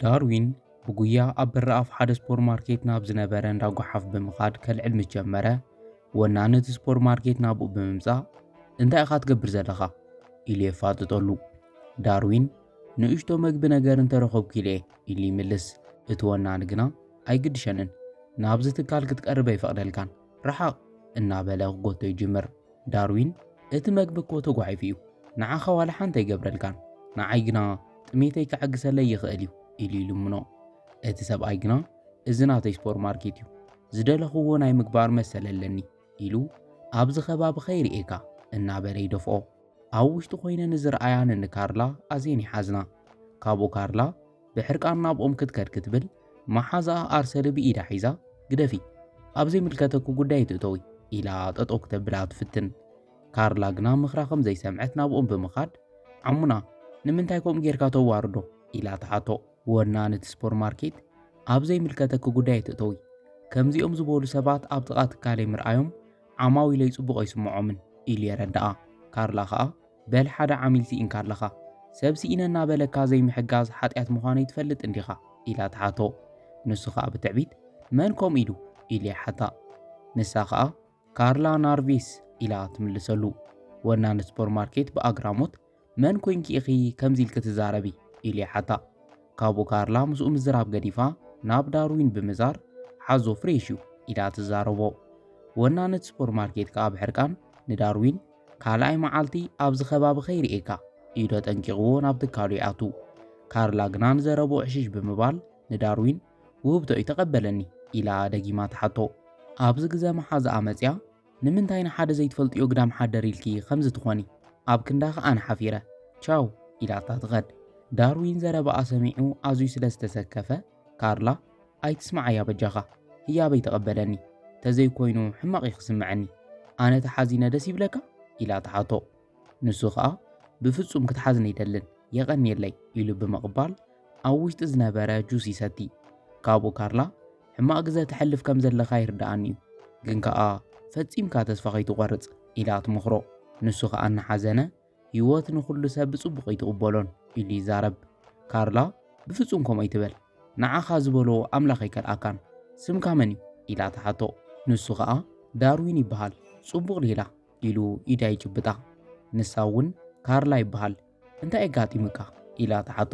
ዳርዊን ብጉያ ኣብ በረኣፍ ሓደ ስፖር ማርኬት ናብ ዝነበረ እንዳ ጓሓፍ ብምኻድ ከልዕል ምስ ጀመረ ወናኒ እቲ ስፖር ማርኬት ናብኡ ብምምጻእ እንታይ ኢኻ ትገብር ዘለኻ ኢሉ የፋጥጠሉ ዳርዊን ንእሽቶ መግቢ ነገር እንተረኸብኩ ኢለ ኢሉ ይምልስ እቲ ወናኒ ግና ኣይግድሸንን ናብዚ ትካል ክትቀርብ ኣይፈቕደልካን ርሓቕ እናበለ ክጎቶ ይጅምር። ዳርዊን እቲ መግቢ እኮ ተጓሒፉ እዩ፣ ንዓኻ ዋላ ሓንቲ ኣይገብረልካን፣ ንዓይ ግና ጥሜተይ ክዕግሰለይ ይኽእል እዩ ኢሉ ይልምኖ። እቲ ሰብኣይ ግና እዚ ናተይ ስፖርማርኬት እዩ፣ ዝደለኹዎ ናይ ምግባር መሰል ኣለኒ ኢሉ ኣብዚ ከባቢ ከይርእየካ እናበለ ይደፍኦ። ኣብ ውሽጢ ኮይነን ንዝርኣያን እንካርላ ኣዝየን ይሓዝና። ካብኡ ካርላ ብሕርቃን ናብኦም ክትከድ ክትብል መሓዛኣ ኣርሰሊ ብኢዳ ሒዛ ግደፊ ኣብ ዘይምልከተኪ ጉዳይ ኣይትእተዊ ኢላ ጠጠው ክተብላ ትፍትን። ካርላ ግና ምኽራ ከም ዘይሰምዐት ናብኦም ብምኻድ ዓሙና ንምንታይ ከምኡ ጌርካ ተዋርዶ ኢላ ትሓቶ። ወናን እቲ ሱፐርማርኬት ኣብ ዘይምልከተኪ ጉዳይ ኣይትእተዊ ከምዚኦም ዝበሉ ሰባት ኣብ ጥቓ ትካለይ ምርኣዮም ዓማዊለይ ጽቡቕ ኣይስምዖምን ኢሉ የረድኣ። ካርላ ከኣ በል ሓደ ዓሚል ስኢንካ ኣለኻ፣ ሰብ ስኢነ እናበለካ ዘይምሕጋዝ ሓጢኣት ምዃነይ ትፈልጥ እንዲኻ? ኢላ ትሓቶ። ንሱ ከኣ ብትዕቢት መን ከምኡ ኢሉ? ኢሉ ይሓታ። ንሳ ከኣ ካርላ ናርቪስ ኢላ ትምልሰሉ። ወናኒ ሱፐርማርኬት ብኣግራሞት መን ኮይንኪ ኢኺ ከምዚ ኢልኪ ትዛረቢ? ኢሉ ይሓታ። ካብኡ ካርላ ምስኡ ምዝራብ ገዲፋ ናብ ዳርዊን ብምዛር ሓዞ ፍሬሽ እዩ ኢላ ትዛረቦ። ወናኒት ሱፐርማርኬት ከኣ ብሕርቃን ንዳርዊን ካልኣይ መዓልቲ ኣብዚ ከባቢ ከይርእየካ ኢሉ ኣጠንቂቕዎ ናብ ትካሉ ይኣቱ። ካርላ ግና ንዘረብኡ ዕሽሽ ብምባል ንዳርዊን ውህብቶይ ተቐበለኒ ኢላ ደጊማ ትሓቶ። ኣብዚ ግዘ መሓዝኣ መጺኣ ንምንታይ ንሓደ ዘይትፈልጥዮ ግዳም ሓደር ኢልኪ ከምዚ ትኾኒ? ኣብ ክንዳ ከኣ ኣነ ሓፊረ ቻው ኢላታ ትኸድ። ዳርዊን ዘረባኣ ሰሚዑ ኣዝዩ ስለ ዝተሰከፈ፣ ካርላ ኣይትስምዓያ በጃኻ፣ ህያበይ ተቐበለኒ፣ ተዘይኮይኑ ሕማቕ እዩ ክስምዐኒ፣ ኣነ ተሓዚነ ደስ ይብለካ? ኢላ ትሓቶ። ንሱ ኸኣ ብፍጹም ክትሓዝኒ ኣይደልን የቐንየለይ ኢሉ ብምቕባል ኣብ ውሽጢ ዝነበረ ጁስ ይሰቲ። ካብኡ ካርላ ሕማቕ ግዘ ተሕልፍ ከም ዘለኻ ይርድኣኒ'ዩ፣ ግን ከኣ ፈጺምካ ተስፋ ከይትቖርጽ ኢላ ትመኽሮ። ንሱ ኸኣ እናሓዘነ ህይወት ንኹሉ ሰብ ብጽቡቕ ኣይትቕበሎን ኢሉ ይዛረብ። ካርላ ብፍጹም ከምኡ ኣይትበል ንዓኻ ዝበሎ ኣምላኽ ኣይከልኣካን፣ ስምካ መን'ዩ? ኢላ ትሓቶ። ንሱ ኸኣ ዳርዊን ይበሃል ጽቡቕ ሌላ ኢሉ ኢዳ ይጭብጣ። ንሳ እውን ካርላ ይበሃል እንታይ ኣጋጢሙካ ኢላ ትሓቶ።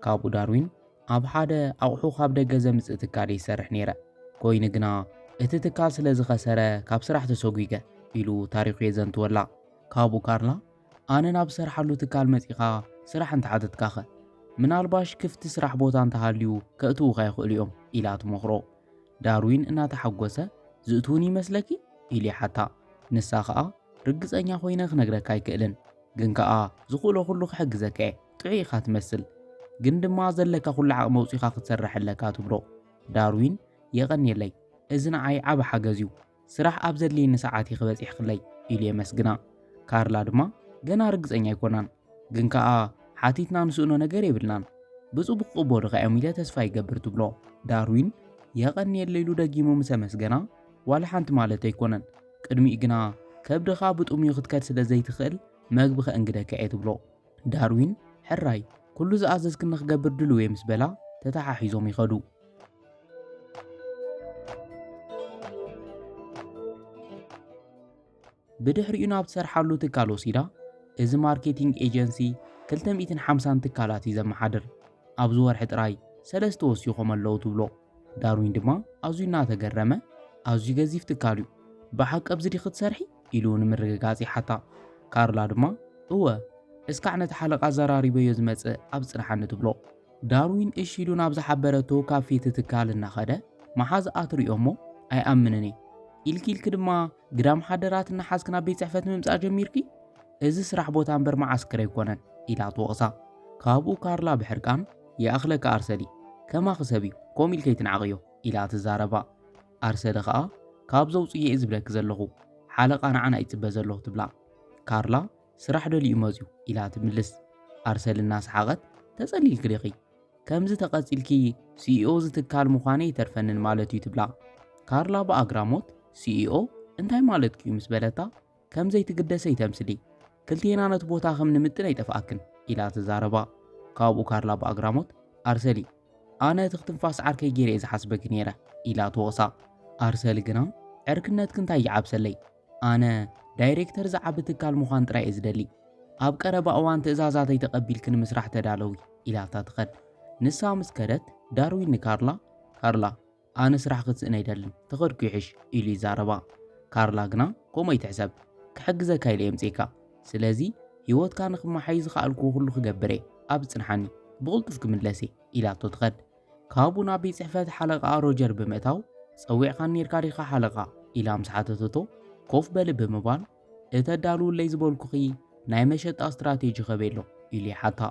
ካብኡ ዳርዊን ኣብ ሓደ ኣቑሑ ካብ ደገ ዘምጽእ ትካል ይሰርሕ ነይረ፣ ኮይኑ ግና እቲ ትካል ስለ ዝኸሰረ ካብ ስራሕ ተሰጒገ ኢሉ ታሪኹ የዘንትወላ። ካብኡ ካርላ ኣነ ናብ ዝሰርሓሉ ትካል መጺኻ ስራሕ እንተሓተትካኸ ምናልባሽ ክፍቲ ስራሕ ቦታ እንተሃልዩ ከእትዉኻ ይኽእሉ እዮም ኢላ ትመኽሮ። ዳርዊን እናተሓጎሰ፣ ዝእትዉኒ ይመስለኪ? ኢሉ ይሓታ። ንሳ ከኣ፣ ርግጸኛ ኮይነ ክነግረካ ኣይክእልን፣ ግን ከኣ ዝኽእሎ ኩሉ ክሕግዘካ'የ፣ ጥዑይ ኢኻ ትመስል፣ ግን ድማ ዘለካ ኩሉ ዓቕሚ ኣውጺኻ ክትሰርሕ ኣለካ ትብሎ። ዳርዊን፣ የቐንየለይ፣ እዚ ንዓይ ዓቢ ሓገዝ'ዩ። ስራሕ ኣብ ዘድልየኒ ሰዓት ኢኺ በጺሕክለይ ኢሉ የመስግና። ካርላ ድማ ገና ርግጸኛ ኣይኮናን፣ ግን ከኣ ሓቲትና ንስእኖ ነገር የብልናን፣ ብጽቡቕ ክቕበሉኻ'ዮም ኢለ ተስፋ ይገብር ትብሎ። ዳርዊን የቐንየለይ ኢሉ ደጊሙ ምስ ኣመስገና፣ ዋላ ሓንቲ ማለተይ ኣይኮነን፣ ቅድሚኡ ግና ከብድኻ ብጥሙዩ ክትከድ ስለ ዘይትኽእል መግቢ ከእንግደካ'የ ትብሎ። ዳርዊን ሕራይ ኩሉ ዝኣዘዝክኒ ክገብር ድሉው እየ ምስ በላ ተተሓሒዞም ይኸዱ። ብድሕሪኡ ናብ ትሰርሓሉ ትካል ወሲዳ እዚ ማርኬቲንግ ኤጀንሲ 250 ትካላት እዩ ዘመሓድር ኣብዚ ወርሒ ጥራይ ሰለስተ ወሲኾም ኣለዉ ትብሎ። ዳርዊን ድማ ኣዝዩ እናተገረመ፣ ኣዝዩ ገዚፍ ትካል እዩ፣ ብሓቂ ኣብዚ ዲኺ ትሰርሒ? ኢሉ ንምርግጋጽ ይሓታ። ካርላ ድማ እወ፣ እስካዕ ነቲ ሓለቓ ኣዘራሪበዮ ዝመጽእ ኣብ ጽንሓኒ ትብሎ። ዳርዊን እሺ ኢሉ ናብ ዝሓበረቶ ካብ ፊቲ ትካል እናኸደ፣ መሓዝ ኣትሪኦ እሞ ኣይኣምንን እየ፣ ኢልኪ ኢልኪ ድማ ግዳም ሓደራት እናሓዝኪ ናብ ቤት ጽሕፈት ምምጻእ ጀሚርኪ? እዚ ስራሕ ቦታ እምበር መዓስከር ኣይኮነን፣ ኢላ ትወቕሳ። ካብኡ ካርላ ብሕርቃን ይኣኽለካ ኣርሰዲ፣ ከማኺ ሰብ እዩ፣ ከምኡ ኢልከ ኣይትንዓቕዮ ኢላ ትዛረባ። ኣርሰዲ ከኣ ካብ ዘውጽእዮ እየ ዝብለኪ ዘለኹ፣ ሓለቓ ንዓና እዩ ዝጽበ ዘሎ ትብላ። ካርላ ስራሕ ደልዩ መጽዩ ኢላ ትምልስ። ኣርሰዲ እናሰሓቐት ተጸሊልኪ ዲኺ? ከምዚ ተቐጺልኪ ሲኢኦ እዚ ትካል ምዃነይ ኣይተርፈንን ማለት እዩ ትብላ። ካርላ ብኣግራሞት ሲኢኦ እንታይ ማለትኪ እዩ ምስ በለታ ከም ዘይትግደሰ ይተምስሊ። ክልቴና ነቲ ቦታ ከም ንምጥን ኣይጠፍኣክን ኢላ ተዛረባ። ካብኡ ካርላ ብኣግራሞት፣ ኣርሰሊ! ኣነ እቲ ክትንፋስ ዓርከይ ገይረ እየ ዝሓስበኪ ነይረ ኢላ ትወቕሳ። ኣርሰሊ ግና ዕርክነትኪ እንታይ ይዓብሰለይ ኣነ ዳይሬክተር ዝዓቢ ትካል ምዃን ጥራይ እየ ዝደሊ። ኣብ ቀረባ እዋን ትእዛዛተይ ተቐቢልኪ ንምስራሕ ተዳለዊ ኢላታ ትኸድ። ንሳ ምስ ከደት ዳርዊን ንካርላ፣ ካርላ! ኣነ ስራሕ ክትስእን ኣይደልን ተኸድኩ ይሕሽ ኢሉ ይዛረባ። ካርላ ግና ከምኡ ኣይትሕሰብ ክሕግዘካ ኢለ'የ ኣምጺኤካ ስለዚ ህይወትካ ንኽመሓይሽ ዝኸኣልክዎ ኩሉ ክገብር'የ ኣብዚ ጽንሓኒ ብቕልጡፍ ክምለስ'የ ኢላቶ ትኸድ። ካብኡ ናብ ቤት ጽሕፈት ሓለቓኣ ሮጀር ብምእታው ጸዊዕካኒ ኔርካ ዲኻ ሓለቓ ኢላ ምስ ሓተተቶ ኮፍ በሊ ብምባል እቲ ኣዳልውለይ ዝበልኩኺ ናይ መሸጣ ስትራቴጂ ከበሎ ኢሉ ይሓታ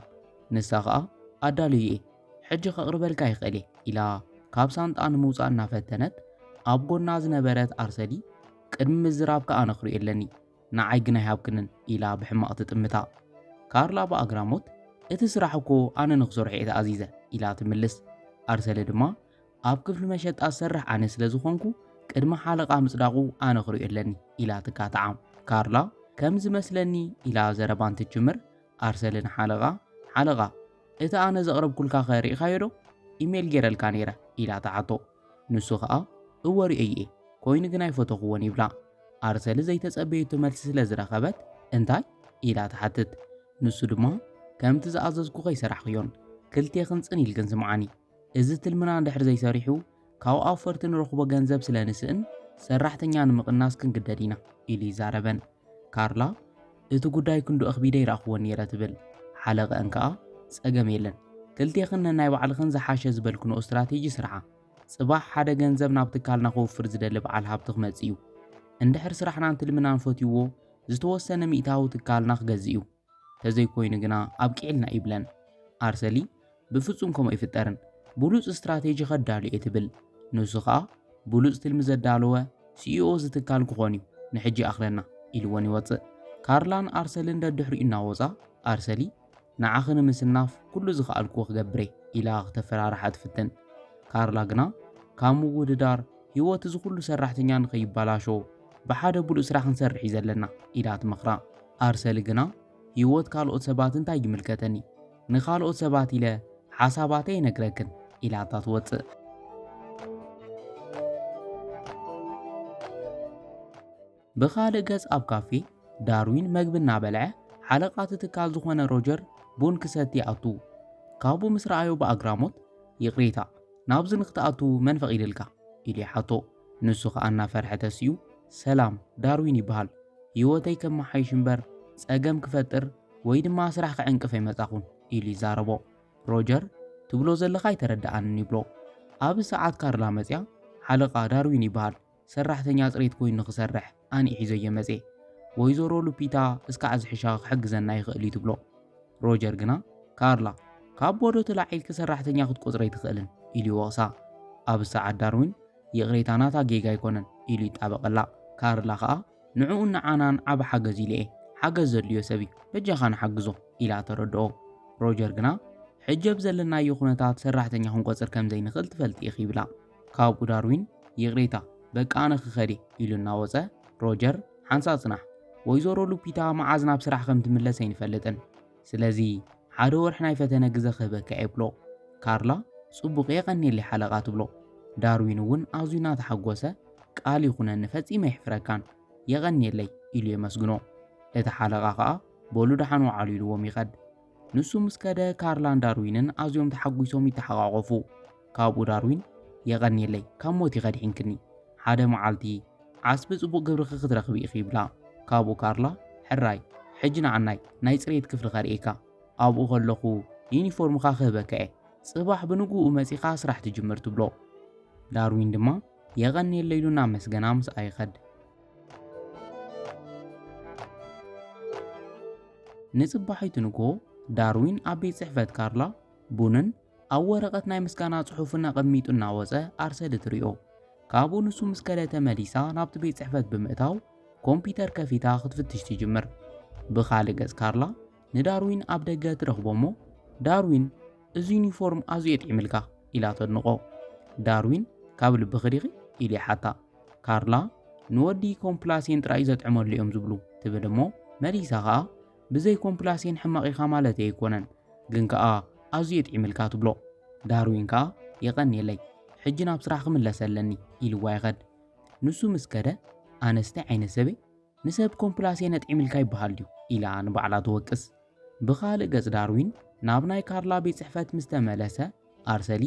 ንሳ ኸኣ ኣዳልዩ እየ ሕጂ ከቕርበልካ ይኽእል እየ ኢላ ካብ ሳንጣ ንምውፃእ እናፈተነት ኣብ ጎና ዝነበረት ኣርሰዲ ቅድሚ ምዝራብ ከኣ ነኽሪኡ ኣለኒ ንዓይ ግን ኣይሃብክንን ኢላ ብሕማቕ ትጥምታ ካርላ ብኣግራሞት እቲ ስራሕ እኮ ኣነ ንክሰርሖ እየ ተኣዚዘ ኢላ ትምልስ ኣርሰለ ድማ ኣብ ክፍሊ መሸጣ ዝሰርሕ ኣነ ስለ ዝኾንኩ ቅድሚ ሓለቓ ምጽዳቑ ኣነ ክርእዮ ኣለኒ ኢላ ትቃታዓ። ካርላ ከም ዝመስለኒ ኢላ ዘረባ እንትትጅምር ኣርሰሊ ንሓለቓ ሓለቓ እቲ ኣነ ዘቕረብኩልካኸ ርኢኻዮዶ? ኢሜል ጌረልካ ነይረ ኢላ ትሓቶ። ንሱ ከኣ እወ ርእየዮ'የ ኮይኑ ግን ኣይፈተኹዎን ይብላ። ኣርሰሊ ዘይተጸበየቶ መልሲ ስለ ዝረኸበት እንታይ? ኢላ ትሓትት። ንሱ ድማ ከምቲ ዝኣዘዝኩ ከይሰራሕክዮን ክልቴኽን ጽን ኢልክን ስምዓኒ እዚ ትልምና እንድሕር ዘይሰሪሑ ካብ ኣውፈርቲ ንረኽቦ ገንዘብ ስለ ንስእን ሰራሕተኛ ንምቕናስ ክንግደድ ኢና ኢሉ ይዛረበን። ካርላ እቲ ጉዳይ ክንዱ ኣኽቢደ ይረኣኽዎ ነይረ ትብል። ሓለቐኣን ከኣ ጸገም የለን ክልቴኽን ነናይ ባዕልኽን ዝሓሸ ዝበልክንኦ ስትራቴጂ ስርሓ። ጽባሕ ሓደ ገንዘብ ናብ ትካልና ከውፍር ዝደሊ በዓል ሃብቲ ክመጽእ'ዩ። እንድሕር ስራሕናን ትልምናን ፈትዩዎ ዝተወሰነ ሚእታዊ ትካልና ክገዝእ'ዩ። ተዘይኮይኑ ግና ኣብቂዕልና ይብለን። ኣርሰሊ ብፍጹም ከምኡ ኣይፍጠርን። ብሉጽ ስትራቴጂ ከዳሉ እየ ትብል። ንሱ ከኣ ብሉጽ ትልሚ ዘዳለወ ሲኢኦ እዚ ትካል ክኾን እዩ፣ ንሕጂ ይኣኽለና ኢልወን ይወጽእ። ካርላን ኣርሰልን ደድሕሪኡ እናወጻ ኣርሰሊ ንዓኺ ንምስናፍ ኩሉ ዝኸኣልክዎ ክገብር እየ ኢላ ክተፈራርሓ ትፍትን። ካርላ ግና ካብ ምውድዳር ህይወት እዚ ኩሉ ሰራሕተኛ ንኸይበላሾ ብሓደ ብሉጽ ስራሕ ክንሰርሕ እዩ ዘለና ኢላ ትመኽራ። ኣርሰሊ ግና ህይወት ካልኦት ሰባት እንታይ ይምልከተኒ፣ ንኻልኦት ሰባት ኢለ ሓሳባተይ ኣይነግረክን ኢላታ ትወጽእ። ብኻልእ ገጽ ኣብ ካፌ ዳርዊን መግቢ እናበልዐ ሓለቓ እቲ ትካል ዝኾነ ሮጀር ቡን ክሰቲ ይኣቱ። ካብኡ ምስ ረኣዮ ብኣግራሞት ይቕሬታ ናብዚ ንክትኣቱ መን ፈቒድልካ? ኢሉ ይሓቶ። ንሱ ኸኣ እናፈርሐ ተሲኡ፣ ሰላም፣ ዳርዊን ይበሃል። ህይወተይ ከመሓይሽ እምበር ጸገም ክፈጥር ወይ ድማ ስራሕ ክዕንቅፍ ኣይመጻኹን ኢሉ ይዛረቦ። ሮጀር፣ ትብሎ ዘለኻ ኣይተረድኣንን ይብሎ። ኣብዚ ሰዓት ካርላ መጺኣ፣ ሓለቓ፣ ዳርዊን ይበሃል፣ ሰራሕተኛ ጽሬት ኮይኑ ንኽሰርሕ። ኣነ ሒዞዮ መጼ ወይዘሮ ሉፒታ እስካዕ ዝሕሻ ክሕግዘና ይኽእል እዩ ትብሎ። ሮጀር ግና ካርላ ካብ ቦዶ ተላዒልኪ ሰራሕተኛ ክትቆጽሪ ኣይትኽእልን ኢሉ ይወቕሳ። ኣብ ሰዓት ዳርዊን ይቕሬታ ናታ ጌጋ ኣይኮነን ኢሉ ይጣበቐላ። ካርላ ከኣ ንዕኡን ንዓናን ዓቢ ሓገዝ ኢሉ እየ ሓገዝ ዘድልዮ ሰብ እዩ በጃኻ ንሓግዞ ኢላ ተረድኦ። ሮጀር ግና ሕጂ ኣብ ዘለናዮ ኩነታት ሰራሕተኛ ክንቆጽር ከምዘይንኽእል ትፈልጢ ኢኺ ይብላ። ካብኡ ዳርዊን ይቕሬታ በቃ ኣነ ክኸድ'የ ኢሉ እናወጸ፣ ሮጀር ሓንሳእ ጽናሕ፣ ወይዘሮ ሉፒታ መዓዝ ናብ ስራሕ ከም ትምለስ ኣይንፈልጥን፣ ስለዚ ሓደ ወርሒ ናይ ፈተነ ግዘ ክህበካ'የ ይብሎ። ካርላ ጽቡቕ የቐንየለይ ሓለቓ ትብሎ። ዳርዊን እውን ኣዝዩ እናተሓጎሰ ቃል ይኹነኒ ፈጺመ ኣይሕፍረካን የቐንየለይ ኢሉ የመስግኖ። እቲ ሓለቓ ከኣ በሉ ደሓን ወዓሉ ኢልዎም ይኸድ። ንሱ ምስ ከደ ካርላን ዳርዊንን ኣዝዮም ተሓጒሶም ይተሓቛቖፉ። ካብኡ ዳርዊን የቐንየለይ ካብ ሞት ኢኺ ኣድሒንክኒ ሓደ መዓልቲ ዓስቢ ጽቡቕ ግብርኺ ክትረኽቢ ኢኺ ይብላ ካብኡ ካርላ ሕራይ ሕጂ ንዓናይ ናይ ጽሬት ክፍሊ ከርእየካ ኣብኡ ከለኹ ዩኒፎርምኻ ክህበካ እየ ጽባሕ ብንግኡ መጺኻ ስራሕ ትጅምር ትብሎ ዳርዊን ድማ የቐንየለይ ኢሉ እናመስገና ምስኣ ይኸድ ንጽባሒቱ ንግሆ ዳርዊን ኣብ ቤት ጽሕፈት ካርላ ቡንን ኣብ ወረቐት ናይ ምስጋና ጽሑፍ እናቐሚጡ እናወጸ ኣርሰዲ ትሪኦ። ካብኡ ንሱ ምስ ከደ ተመሊሳ ናብቲ ቤት ጽሕፈት ብምእታው ኮምፒተር ከፊታ ክትፍትሽ ትጅምር። ብኻልእ ገጽ ካርላ ንዳርዊን ኣብ ደገ ትረኽቦ እሞ ዳርዊን እዚ ዩኒፎርም ኣዝዩ የጥዒምልካ ኢላ ተድንቖ። ዳርዊን ካብ ልብኺ ዲኺ ኢሉ ይሓታ። ካርላ ንወዲ ኮምፕላሴን ጥራይ ዘጥዕመሉ እዮም ዝብሉ ትብል እሞ መሊሳ ኸኣ ብዘይ ኮምፕላሴን ሕማቕ ኢኻ ማለተይ ኣይኮነን፣ ግን ከኣ ኣዝዩ የጥዒምልካ ትብሎ። ዳርዊን ከኣ የቐንየለይ ሕጂ ናብ ስራሕ ክምለስ ኣለኒ ኢልዋ ይኸድ። ንሱ ምስ ከደ ኣነስ ታይ ዓይነት ሰብ'የ ንሰብ ኮምፕላሴን ኣጥዒምልካ ይበሃል ድዩ ኢላ ንባዕላ ትወቅስ። ብኻልእ ገጽ ዳርዊን ናብ ናይ ካርላ ቤት ጽሕፈት ምስ ተመለሰ ኣርሰሊ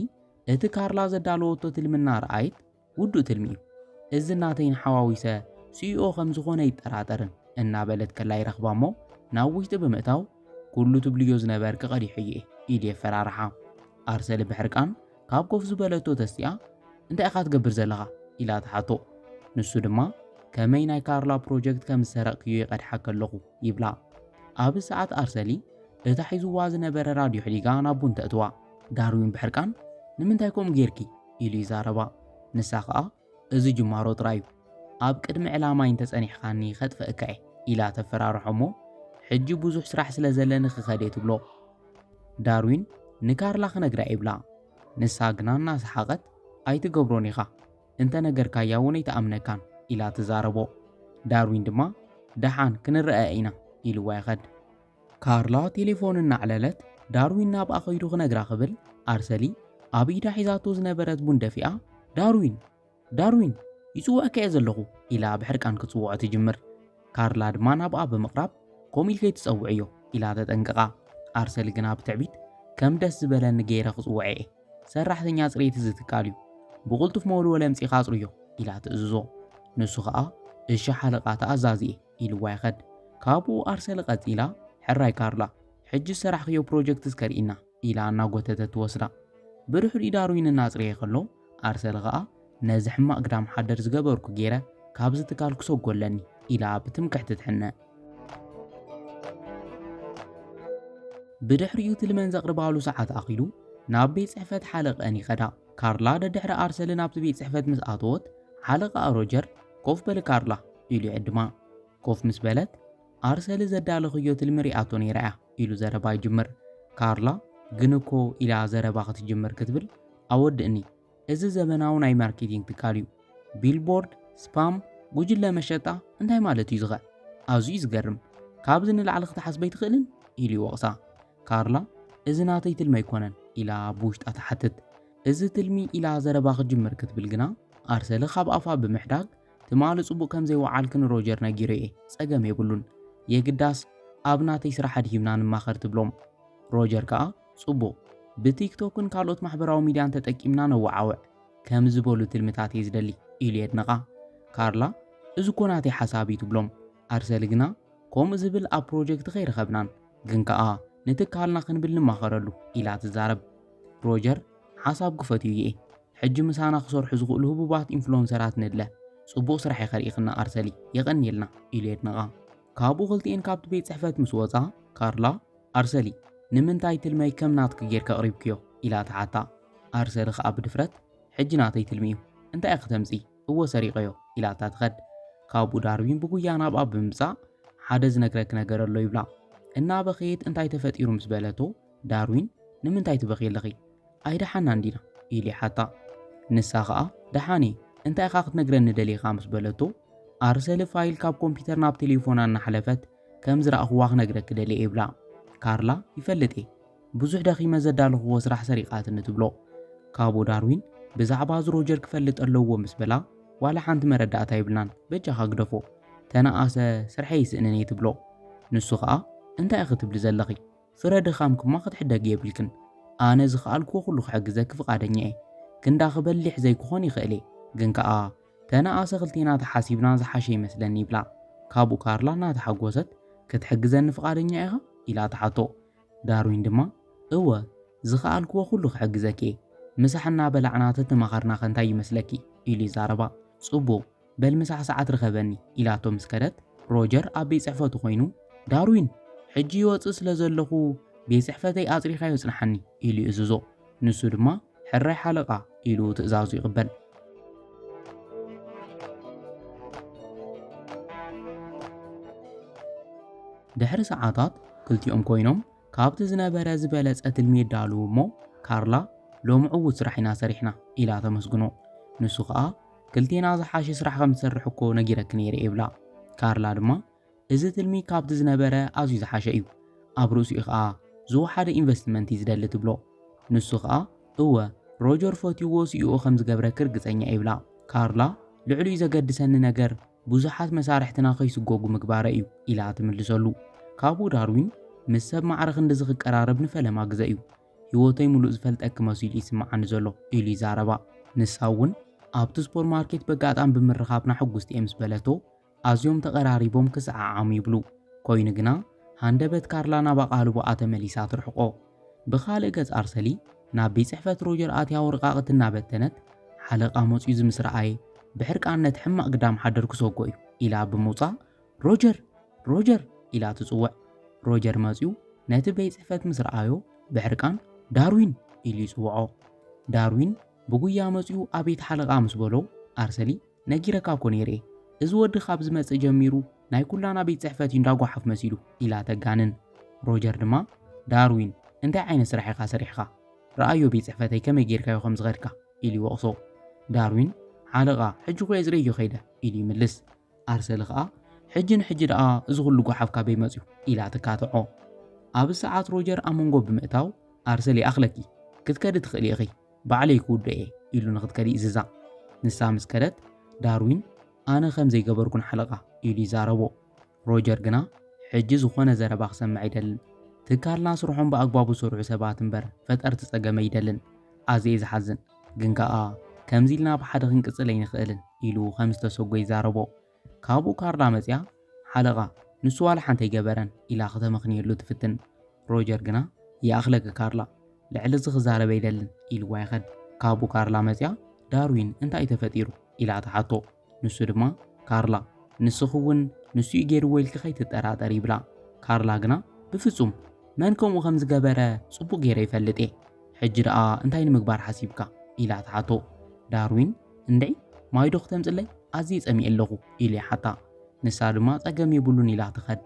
እቲ ካርላ ዘዳለወቶ ትልሚ እናረኣየት ውዱእ ትልሚ እዩ እዚ ናተይን ሓዋዊሰ ስኢኦ ከም ዝኾነ ይጠራጠርን እናበለት ከላ ይረኽባ እሞ ናብ ውሽጢ ብምእታው ኩሉ ትብልዮ ዝነበር ክቐዲሑ እየ ኢድ የፈራርሓ ኣርሰሊ ብሕርቃን ካብ ኮፍ ዝበለቶ ተስቲኣ እንታይ ኢኻ ትገብር ዘለኻ ኢላ ትሓቶ ንሱ ድማ ከመይ ናይ ካርላ ፕሮጀክት ከም ዝሰረቕክዮ ይቐድሓ ከለኹ ይብላ ኣብ ሰዓት ኣርሰሊ እታ ሒዝዋ ዝነበረ ራድዮ ሕዲጋ ናብ ቡን ተእትዋ ዳርዊን ብሕርቃን ንምንታይ ከምኡ ጌርኪ ኢሉ ይዛረባ። ንሳ ከኣ እዚ ጅማሮ ጥራይ እዩ፣ ኣብ ቅድሚ ዕላማይ እንተጸኒሕካኒ ከጥፈእካ እየ ኢላ ተፈራርሖ እሞ ሕጂ ብዙሕ ስራሕ ስለ ዘለኒ ክኸድ እየ ትብሎ። ዳርዊን ንካርላ ክነግራ ይብላ፣ ንሳ ግና እናሰሓቐት ኣይትገብሮን ኢኻ፣ እንተ ነገርካያ እውን ኣይትኣምነካን ኢላ ትዛረቦ። ዳርዊን ድማ ደሓን ክንረኣኣ ኢና ኢልዋ ይኸድ። ካርላ ቴሌፎን እናዕለለት ዳርዊን ናብኣ ከይዱ ክነግራ ክብል ኣርሰሊ ኣብ ኢዳ ሒዛቶ ዝነበረት ቡን ደፊኣ ዳርዊን ዳርዊን ይጽውዐካ እየ ዘለኹ ኢላ ብሕርቃን ክጽውዖ ትጅምር። ካርላ ድማ ናብኣ ብምቕራብ ከምኡ ኢል ከይትጸውዕዮ ኢላ ተጠንቅቓ። ኣርሰሊ ግና ብትዕቢት ከም ደስ ዝበለኒ ገይረ ክጽውዐ እየ ሰራሕተኛ ጽሬት እዚ ትካል እዩ ብቕልጡፍ መወልወሊ ኣምጺኻ ኣጽርዮ ኢላ ትእዝዞ። ንሱ ኸኣ እሺ ሓለቓ ተኣዛዚ እየ ኢልዋ ይኸድ ካብኡ ኣርሰለ ቀጺላ ሕራይ ካርላ ሕጂ ዝሰራሕክዮ ፕሮጀክት እስከ ርኢና ኢላ እናጎተተት ትወስዳ ብድሕሪኡ ዳርዊን እናጽረየ ከሎ ኣርሰለ ከኣ ነዚ ሕማቅ ግዳም ሓደር ዝገበርኩ ጌረ ካብዚ ትካል ክሰጎ ኣለኒ ኢላ ብትምክሕቲ ትሕነ ብድሕሪኡ ትልመን ዘቅርባሉ ሰዓት ኣኺሉ ናብ ቤት ጽሕፈት ሓለቀን ይኸዳ ካርላ ደድሕሪ ኣርሰልን ኣብቲ ቤት ጽሕፈት ምስ ኣተወት፣ ሓለቓኣ ሮጀር፣ ኮፍ በሊ ካርላ፣ ኢሉ ይዕድማ። ኮፍ ምስ በለት፣ ኣርሰሊ ዘዳለኽዮ ትልሚ ሪኣቶ ነይራ እያ፣ ኢሉ ዘረባ ይጅምር። ካርላ ግን እኮ፣ ኢላ ዘረባ ክትጅምር ክትብል፣ ኣወድእኒ፣ እዚ ዘበናዊ ናይ ማርኬቲንግ ትካል እዩ። ቢልቦርድ፣ ስፓም፣ ጉጅለ መሸጣ፣ እንታይ ማለት እዩዚኸ? ኣዝዩ እዩ ዝገርም። ካብዚ ንላዕሊ ክትሓስብ ኣይትኽእልን? ኢሉ ይወቕሳ። ካርላ፣ እዚ ናተይ ትልሚ ኣይኮነን፣ ኢላ ኣብ ውሽጣ ትሓትት። እዚ ትልሚ፣ ኢላ ዘረባ ክትጅምር ክትብል ግና፣ ኣርሰለ ካብ ኣፋ ብምሕዳግ፣ ትማሊ ጽቡቕ ከም ዘይወዓልኪ ንሮጀር ነጊረዮ'የ፣ ጸገም የብሉን፣ የግዳስ ኣብ ናተይ ስራሕ ኣድሂብና ንማኸር ትብሎም። ሮጀር ከኣ፣ ጽቡቕ፣ ብቲክቶክን ካልኦት ማሕበራዊ ሚድያን ተጠቂምና ነወዓውዕ፣ ከም ዝበሉ ትልምታት'የ ዝደሊ፣ ኢሉ የድንቓ። ካርላ፣ እዚ'ኮ ናተይ ሓሳብ'ዩ፣ ትብሎም። ኣርሰለ ግና፣ ከምኡ ዝብል ኣብ ፕሮጀክት ከይረኸብናን፣ ግን ከኣ ንትካልና ክንብል ንማኸረሉ ኢላ ትዛረብ። ሮጀር፣ ሓሳብ ግፈት እዩ ይኤ። ሕጂ ምሳና ክሰርሑ ዝኽእሉ ህቡባት ኢንፍሎንሰራት ንድለ። ጽቡቕ ስራሕ ኢኺ ርኢኽና ኣርሰሊ፣ የቐንየልና ኢሉ የድንቓ። ካብኡ ክልቲኤን ካብቲ ቤት ጽሕፈት ምስ ወጻ፣ ካርላ፣ ኣርሰሊ፣ ንምንታይ ትልመይ ከም ናትኪ ጌርኪ ኣቕሪብክዮ? ኢላ ትሓታ። ኣርሰሊ ከኣ ብድፍረት፣ ሕጂ ናተይ ትልሚ እዩ። እንታይ ኢኺ ተምጽኢ? እወ ሰሪቐዮ ኢላታ ትኸድ። ካብኡ ዳርዊን ብጉያ ናብኣ ብምምጻእ ሓደ ዝነግረኪ ነገር ኣሎ ይብላ። እናበኸየት እንታይ ተፈጢሩ ምስ በለቶ ዳርዊን ንምንታይ ትበኽዪ ኣለኺ ኣይደሓናን ዲና ኢሉ ይሓታ። ንሳ ኸኣ ደሓን እየ እንታይ ኢኻ ክትነግረኒ ደሊኻ ምስ በለቶ ኣር ሰሊ ፋይል ካብ ኮምፒተር ናብ ቴሌፎና እናሓለፈት ከም ዝረኣኹዋ ክነግረኪ ደልየ ይብላ። ካርላ ይፈልጥ እየ ብዙሕ ደኺመ ዘዳለኽዎ ስራሕ ሰሪቓትኒ ትብሎ። ካብኡ ዳርዊን ብዛዕባ እዚ ሮጀር ክፈልጥ ኣለዎ ምስ በላ ዋላ ሓንቲ መረዳእታ የብልናን በጃኻ ግደፎ ተነኣሰ ስርሐይ ይስእንን እየ ትብሎ። ንሱ ኸኣ እንታይ ኢኺ ትብሊ ዘለኺ ፍረ ድኻምክማ ክትሕደጊ የብልክን ኣነ ዝኸኣልክዎ ኩሉ ክሕግዘኪ ፍቓደኛ እየ ክንዳኺ በሊሕ ዘይክኾን ይኽእል እየ ግን ከኣ ተነኣሰ ክልቴና ተሓሲብና ዝሓሸ ይመስለኒ ይብላ። ካብኡ ካርላ እናተሓጎሰት ክትሕግዘኒ ፍቓደኛ ኢኻ ኢላ ትሓቶ። ዳርዊን ድማ፣ እወ፣ ዝኸኣልክዎ ዅሉ ኽሕግዘኪ እየ። ምሳሕ እናበላዕና ተተማኸርናኸ እንታይ ይመስለኪ? ኢሉ ይዛረባ። ጽቡቕ፣ በል ምሳሕ ሰዓት ርኸበኒ፣ ኢላቶ ምስ ከደት፣ ሮጀር ኣብ ቤት ጽሕፈቱ ዀይኑ፣ ዳርዊን፣ ሕጂ ይወጽእ ስለ ዘለኹ፣ ቤት ጽሕፈተይ ኣጽሪኻዮ ጽንሓኒ፣ ኢሉ ይእዝዞ። ንሱ ድማ፣ ሕራይ ሓለቓ ኢሉ ትእዛዙ ይቕበል። ድሕሪ ሰዓታት ክልቲኦም ኮይኖም ካብቲ ዝነበረ ዝበለጸ ትልሚ የዳልዉ እሞ ካርላ ሎሚ ዕዉት ስራሕ ኢና ሰሪሕና ኢላ ተመስግኖ። ንሱ ኸኣ ክልቴና ዝሓሸ ስራሕ ከም ዝሰርሕ እኮ ነጊረኪ ነይረ ይብላ። ካርላ ድማ እዚ ትልሚ ካብቲ ዝነበረ ኣዝዩ ዝሓሸ እዩ። ኣብ ርእሲኡ ከኣ ዝወሓደ ኢንቨስትመንት እዩ ዝደሊ ትብሎ። ንሱ ከኣ እወ ሮጀር ፈትዩዎ ስኢኡ ከም ዝገብረኪ ርግጸኛ እየ ይብላ። ካርላ ልዕሊኡ ዘገድሰኒ ነገር ብዙሓት መሳርሕትና ከይስጎጉ ምግባረይ እዩ ኢላ ትምልሰሉ። ካብኡ ዳርዊን ምስ ሰብ ማዕረ ክንድዚ ክቀራረብ ንፈለማ ግዘ እዩ። ህይወተይ ምሉእ ዝፈልጠኪ መሲሉ እዩ ዝስምዓኒ ዘሎ ኢሉ ይዛረባ። ንሳ እውን ኣብቲ ሱፐርማርኬት በጋጣሚ ብምርኻብና ሕጉስቲ እየ ምስ በለቶ ኣዝዮም ተቐራሪቦም ክሰዓዓሙ ይብሉ። ኮይኑ ግና፣ ሃንደበት ካርላ ናብ ኣቓልቦኣ ተመሊሳ ትርሕቆ። ብኻልእ ገጽ ኣርሰሊ ናብ ቤት ጽሕፈት ሮጀር ኣትያ ወረቓቕቲ እናበተነት፣ ሓለቓ መጺኡ ዝምስ ረኣየ፣ ብሕርቃን ነቲ ሕማቕ ግዳም ሓደር ክሰጎ እዩ፣ ኢላ ብምውጻእ፣ ሮጀር! ሮጀር! ኢላ ትጽውዕ። ሮጀር መጺኡ ነቲ ቤት ጽሕፈት ምስ ረኣዮ፣ ብሕርቃን ዳርዊን! ኢሉ ይጽውዖ። ዳርዊን ብጉያ መጺኡ ኣቤት ሓለቓ ምስ በሎ፣ ኣርሰሊ ነጊረካ እኮ ነይረ እዚ ወዲ ካብ ዝመጽእ ጀሚሩ ናይ ኩላና ቤት ጽሕፈት እዩ እንዳ ጓሓፍ መሲሉ ኢላ ተጋንን። ሮጀር ድማ ዳርዊን እንታይ ዓይነት ስራሕ ኢኻ ሰሪሕኻ ርኣዮ ቤት ጽሕፈተይ ከመይ ጌርካዮ ከም ዝኸድካ ኢሉ ይወቕሶ። ዳርዊን ሓለቓ ሕጂ እኮ እየ ዝርእዮ ከይደ ኢሉ ይምልስ። ኣርሰሊ ከኣ ሕጂ ንሕጂ ደኣ እዚ ኩሉ ጓሓፍ ካበይ መጽዩ ኢላ ትካትዖ። ኣብዚ ሰዓት ሮጀር ኣብ መንጎ ብምእታው ኣርሰሊ ይኣኽለኪ ክትከዲ ትኽእሊ ኢኺ ባዕለይ ክውድኦ እየ ኢሉ ንኽትከድ ይእዝዛ። ንሳ ምስ ከደት፣ ዳርዊን ኣነ ከም ዘይገበርኩ ንሓለቓ ኢሉ ይዛረቦ። ሮጀር ግና ሕጂ ዝዀነ ዘረባ ክሰምዕ ኣይደልን። ትካልና ስርሖም ብኣግባቡ ዝሰርሑ ሰባት እምበር ፈጠርቲ ጸገም ኣይደልን። ኣዝየ ዝሓዝን። ግን ከኣ ከምዚ ኢልና ብሓደ ክንቅጽል ኣይንኽእልን ኢሉ ከም ዝተሰጐ ይዛረቦ። ካብኡ ካርላ መጺኣ፣ ሓለቓ፣ ንሱ ዋላ ሓንቲ ኣይገበረን ኢላ ክተመኽንየሉ ትፍትን። ሮጀር ግና፣ ይኣኽለኪ ካርላ፣ ልዕሊ እዚ ክዛረብ ኣይደልን ኢልዋ ይኸድ። ካብኡ ካርላ መጺኣ፣ ዳርዊን እንታይ'ዩ ተፈጢሩ? ኢላ ትሓቶ። ንሱ ድማ፣ ካርላ፣ ንስኺ'ውን ንሱ'ዩ ገይርዎ ኢልኪ ከይትጠራጠሪ ይብላ። ካርላ ግና፣ ብፍጹም! መን ከምኡ ከም ዝገበረ ጽቡቕ ገይረ ይፈልጥ'የ። ሕጂ ደኣ እንታይ ንምግባር ሓሲብካ? ኢላ ትሓቶ። ዳርዊን፣ እንድዒ ማይ ዶ ክተምጽለይ ኣዝየ ጸሚኤ ኣለኹ ኢሉ ይሓታ። ንሳ ድማ ጸገም የብሉን ኢላ ትኸድ።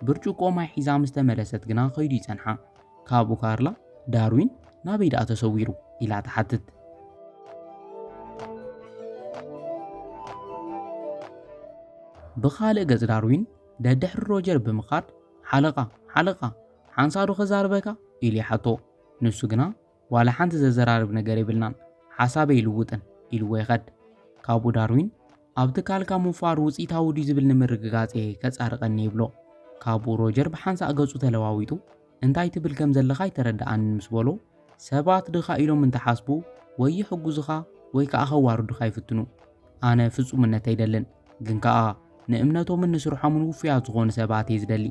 ብርጭቆ ማይ ሒዛ ምስ ተመለሰት ግና ከይዱ ይጸንሓ። ካብኡ ካርላ ዳርዊን ናበይ ደኣ ተሰዊሩ ኢላ ትሓትት። ብኻልእ ገጽ ዳርዊን ደድሕሪ ሮጀር ብምኻድ ሓለቓ ሓለቓ ሓንሳእ ዶ ከዛርበካ ኢሉ ይሓቶ። ንሱ ግና ዋላ ሓንቲ ዘዘራርብ ነገር የብልናን፣ ሓሳበይ ኣይልውጥን ኢልዎ ይኸድ። ካብኡ ዳርዊን፣ ኣብ ትካልካ ምውፋር ውጽኢታዊ ድዩ ዝብል ንምርግጋጽ'የ ከጻርቐኒ ይብሎ። ካብኡ ሮጀር ብሓንሳእ ገጹ ተለዋዊጡ፣ እንታይ ትብል ከም ዘለኻ ኣይተረድኣንን ምስ በሎ፣ ሰባት ድኻ ኢሎም እንተሓስቡ ወይ ይሕግዙኻ ወይ ከኣ ከዋርዱኻ ይፍትኑ። ኣነ ፍጹምነት ኣይደልን፣ ግን ከኣ ንእምነቶምን ንስርሖምን ውፉያት ዝኾኑ ሰባት'የ ዝደሊ።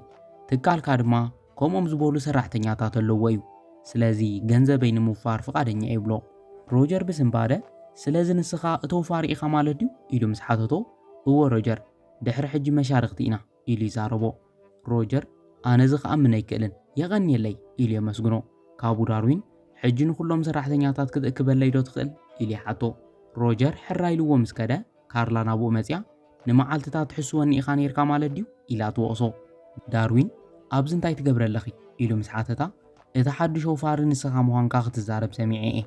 ትካልካ ድማ ከምኦም ዝበሉ ሰራሕተኛታት ኣለዎ እዩ። ስለዚ ገንዘበይ ንምውፋር ፍቓደኛ እዩ ይብሎ። ሮጀር ብስንባደ፣ ስለዚ ንስኻ እቲ ወፋሪ ኢኻ ማለት ድዩ? ኢሉ ምስ ሓተቶ፣ እወ ሮጀር፣ ድሕሪ ሕጂ መሻርኽቲ ኢና ኢሉ ይዛረቦ። ሮጀር፣ ኣነዚ ክኣምን ኣይክእልን፣ የቐንየለይ! ኢሉ የመስግኖ። ካብኡ ዳርዊን፣ ሕጂ ንኹሎም ሰራሕተኛታት ክትእክበለይዶ ትኽእል? ኢሉ ይሓቶ። ሮጀር ሕራይ ኢልዎ ምስ ከደ፣ ካርላ ናብኡ መጺኣ፣ ንመዓልትታት ትሕስወኒ ኢኻ ነይርካ ማለት ድዩ? ኢላ ትወቕሶ። ዳርዊን፣ ኣብዚ እንታይ ትገብሪ ኣለኺ? ኢሉ ምስ ሓተታ፣ እቲ ሓድሽ ኣውፋሪ ንስኻ ምዃንካ ክትዛረብ ሰሚዐ'የ።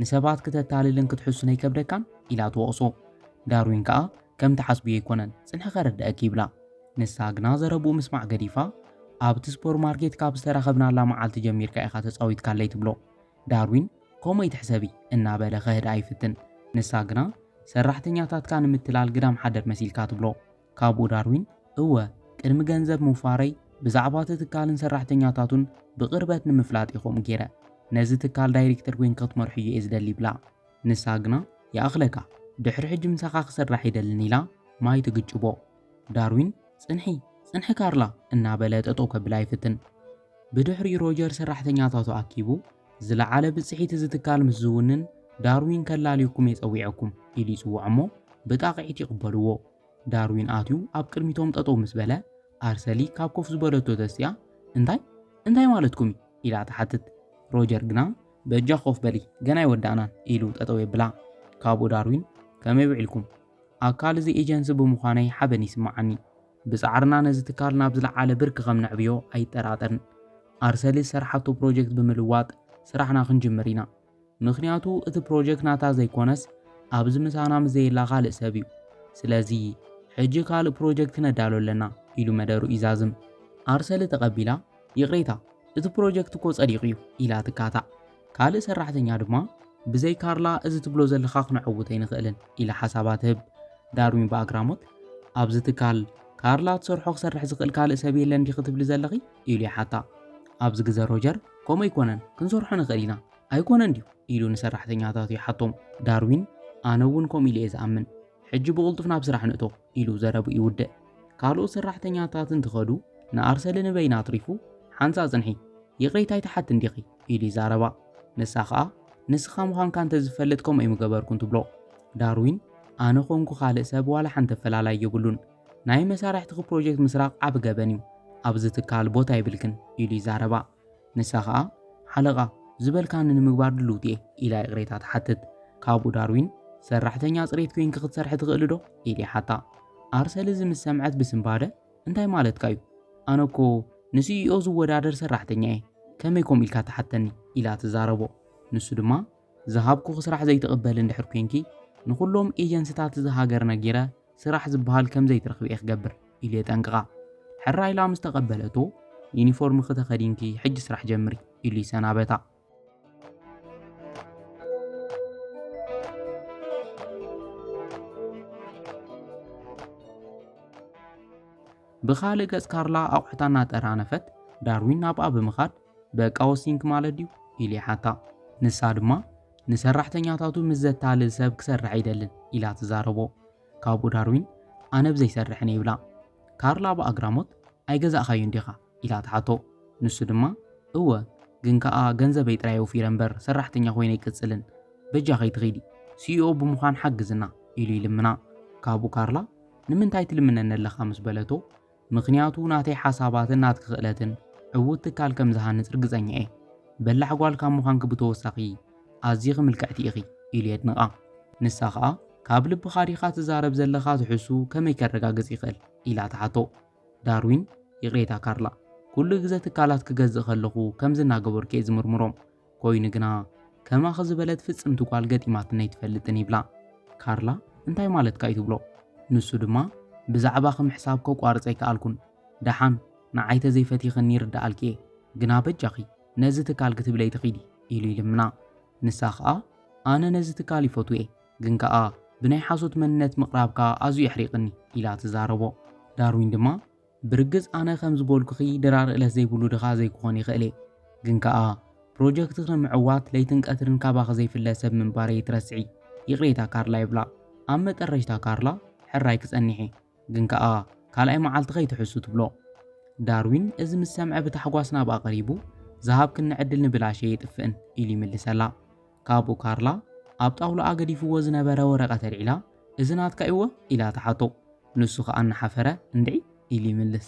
ንሰባት ክተታልልን ክትሕሱን ኣይከብደካን? ኢላ ትወቕሶ። ዳርዊን ከኣ፣ ከምቲ ሓስብዮ ኣይኮነን፣ ጽንሒ ከረድኣኪ ይብላ። ንሳ ግና ዘረብኡ ምስማዕ ገዲፋ፣ ኣብቲ ስፖርማርኬት ካብ ዝተራኸብናላ መዓልቲ ጀሚርካ ኢኻ ተጻዊትካለይ ትብሎ። ዳርዊን ከምኡ ኣይትሕሰቢ እናበለ ኸህድኣ ይፍትን። ንሳ ግና ሰራሕተኛታትካ ንምትላል ግዳም ሓደር መሲልካ ትብሎ። ካብኡ ዳርዊን እወ ቅድሚ ገንዘብ ምውፋረይ ብዛዕባ እቲ ትካልን ሰራሕተኛታቱን ብቕርበት ንምፍላጥ እየ ከምኡ ገይረ። ነዚ ትካል ዳይሬክተር ኮይንካ ክትመርሖ እየ ዝደሊ ይብላ። ንሳ ግና ይኣኽለካ ድሕሪ ሕጂ ምሳኻ ክስራሕ ኣይደልን ኢላ ማይ ትግጭቦ። ዳርዊን ጽንሒ! ጽንሒ ካርላ! እናበለ ጠጠው ከብላ ይፍትን። ብድሕሪኡ ሮጀር ሰራሕተኛታቱ ኣኪቡ፣ ዝለዓለ ብጽሒት እዚ ትካል ምስ ዝውንን ዳርዊን ከላልየኩም'የ ጸዊዐኩም ኢሉ ይጽውዖም'ሞ ብጣቕዒት ይቕበልዎ። ዳርዊን ኣትዩ ኣብ ቅድሚቶም ጠጠው ምስ በለ፣ ኣርሰሊ ካብ ኮፍ ዝበለቶ ተሲኣ፣ እንታይ? እንታይ ማለትኩም'ዩ? ኢላ ትሓትት። ሮጀር ግና፣ በጃኺ ኮፍ በሊ፣ ገና ኣይወዳእናን ኢሉ ጠጠው የብላ። ካብኡ ዳርዊን፣ ከመይ ውዒልኩም? ኣካል እዚ ኤጀንሲ ብምዃነይ ሓበን ይስመዓኒ። ብጻዕርና ነዚ ትካል ናብ ዝለዓለ ብርኪ ከም ነዕብዮ ኣይጠራጠርን። ኣርሰሊ ዝሰርሓቶ ፕሮጀክት ብምልዋጥ ስራሕና ክንጅምር ኢና። ምኽንያቱ እቲ ፕሮጀክት ናታ ዘይኮነስ ኣብዚ ምሳና ምስ ዘየላ ካልእ ሰብ እዩ። ስለዚ ሕጂ ካልእ ፕሮጀክት ክነዳሉ ኣለና ኢሉ መደሩ ይዛዝም። ኣርሰሊ ተቐቢላ ይቕሬታ እቲ ፕሮጀክት እኮ ጸዲቑ እዩ ኢላ ትካታዕ። ካልእ ሰራሕተኛ ድማ ብዘይ ካርላ እዚ ትብሎ ዘለኻ ክነዕውት ኣይንኽእልን ኢላ ሓሳባ ትህብ። ዳርዊን ብኣግራሞት ኣብዚ ትካል ካርላ ትሰርሖ ክሰርሕ ዝኽእል ካልእ ሰብ የለን ዲኺ ትብሊ ዘለኺ ኢሉ ይሓታ። ኣብዚ ግዘ ሮጀር ከምኡ ኣይኮነን ክንሰርሖ ንኽእል ኢና ኣይኮነን ድዩ ኢሉ ንሰራሕተኛታቱ ይሓቶም። ዳርዊን ኣነ እውን ከምኡ ኢለ እየ ዝኣምን ሕጂ ብቕልጡፍ ናብ ስራሕ ንእቶ ኢሉ ዘረብኡ ይውድእ። ካልኦት ሰራሕተኛታት እንትኸዱ ንኣርሰሊ ንበይና ኣትሪፉ ሓንሳእ ጽንሒ ይቕሬታ ኣይትሓትን ዲኺ? ኢሉ ይዛረባ። ንሳ ከኣ ንስኻ ምዃንካ እንተዝፈልጥ ከምኡ ኣይምገበርኩን ትብሎ። ዳርዊን ኣነ ኮንኩ ካልእ ሰብ ዋላ ሓንቲ ኣፈላላይ የብሉን። ናይ መሳርሕትኺ ፕሮጀክት ምስራቕ ዓቢ ገበን እዩ። ኣብዚ ትካል ቦታ የብልክን ኢሉ ይዛረባ። ንሳ ኸኣ፣ ሓለቓ፣ ዝበልካኒ ንምግባር ድልውቲ'የ፣ ኢላ ይቕሬታ ትሓትት። ካብኡ ዳርዊን፣ ሰራሕተኛ ጽሬት ኴንኪ ክትሰርሒ ትኽእሊዶ? ኢሉ ይሓታ። ኣርሰል እዚ ምስ ሰምዐት ብስንባደ፣ እንታይ ማለትካ'ዩ? ኣነ'ኮ ንሲኢኦ ዝወዳደር ሰራሕተኛ'የ፣ ከመይ ከምኡ ኢልካ ትሓተኒ? ኢላ ትዛረቦ። ንሱ ድማ፣ ዝሃብኩኺ ስራሕ ዘይትቕበሊ እንድሕር ኮይንኪ ንኹሎም ኤጀንሲታት እዛ ሃገር ነጊረ ስራሕ ዝበሃል ከም ዘይትረኽቢ እየ ክገብር ኢሉ የጠንቅቓ። ሕራይ ኢላ ምስ ተቐበለቶ ዩኒፎርምኺ ተኸዲንኪ ሕጂ ስራሕ ጀምሪ ኢሉ ይሰናበታ። ብኻልእ ገጽ ካርላ ኣቑሑታ እናጠራነፈት ዳርዊን ናብኣ ብምኻድ በቃ'ወ ሲንክ ማለት ድዩ? ኢሉ ይሓታ። ንሳ ድማ፣ ንሰራሕተኛታቱ ምስ ዘታልል ሰብ ክሰርሕ ኣይደልን፣ ኢላ ትዛረቦ። ካብኡ ዳርዊን፣ ኣነ ብ ዘይሰርሕን እየ፣ ይብላ። ካርላ ብኣግራሞት፣ ኣይገዛእካዮን ዲኻ? ኢላ ትሓቶ። ንሱ ድማ፣ እወ፣ ግን ከኣ ገንዘበይ ጥራይ ኣውፊረ እምበር ሰራሕተኛ ኮይነ ኣይቅጽልን። በጃ ከይትኺዲ፣ ሲኢኦ ብምዃን ሓግዝና፣ ኢሉ ይልምና። ካብኡ ካርላ፣ ንምንታይ ትልምነኒ ኣለኻ? ምስ በለቶ፣ ምኽንያቱ ናተይ ሓሳባትን ናትኪ ክእለትን ዕዉት ትካል ከም ዝሃንጽ ርግጸኛ እየ። በላሕ ጓል ካብ ምዃንኪ ብተወሳኺ ኣዚኺ ምልክዕቲ ኢኺ ኢሉ የድንቓ። ንሳ ኸኣ ካብ ልብኻ ዲኻ ትዛረብ ዘለኻ ትሕዝትኡ ከመይ ከረጋግጽ ይኽእል ኢላ ትሓቶ። ዳርዊን ይቕሬታ ካርላ ኩሉ ግዘ ትካላት ክገዝእ ከለኹ ከምዚ እናገበርኩ እየ ዝምርምሮም። ኮይኑ ግና ከማኺ ዝበለት ፍጽምቲ ጓል ገጢማትኒ ኣይትፈልጥን ይብላ። ካርላ እንታይ ማለትካ እዩ ትብሎ። ንሱ ድማ ብዛዕባኺ ምሕሳብ ከቋርጽ ኣይከኣልኩን። ደሓን ንዓይ ተዘይፈቲኽኒ ይርደኣልኪ እየ፣ ግና በጃኺ ነዚ ትካል ክትብሊ ኣይትኺዲ ኢሉ ይልምና። ንሳ ከኣ ኣነ ነዚ ትካል ይፈትዎ እየ፣ ግን ከኣ ብናይ ሓሶት መንነት ምቕራብካ ኣዝዩ የሕሪቕኒ ኢላ ትዛረቦ። ዳርዊን ድማ ብርግጽ ኣነ ከም ዝበልኩኺ ድራር እለት ዘይብሉ ድኻ ዘይክኾን ይኽእል እየ። ግን ከኣ ፕሮጀክትኺ ንምዕዋት ለይትን ቀትርን ካባኺ ዘይፍለ ሰብ ምንባረይ ኣይትረስዒ። ይቕሬታ ካርላ ይብላ። ኣብ መጠረሽታ ካርላ ሕራይ ክጸኒሕ እየ። ግን ከኣ ካልኣይ መዓልቲ ከይትሕሱ ትብሎ። ዳርዊን እዚ ምስ ሰምዐ ብታሕጓስ ናብኣ ቀሪቡ ዝሃብክኒ ዕድል ንብላሽ ኣይጥፍእን ኢሉ ይምልሰላ። ካብኡ ካርላ ኣብ ጣውላኣ ገዲፍዎ ዝነበረ ወረቐት ኣልዒላ፣ እዚ ናትካ'ዩወ? ኢላ ትሓቶ። ንሱ ኸኣ እናሓፈረ እንድዒ ኢሉ ይምልስ።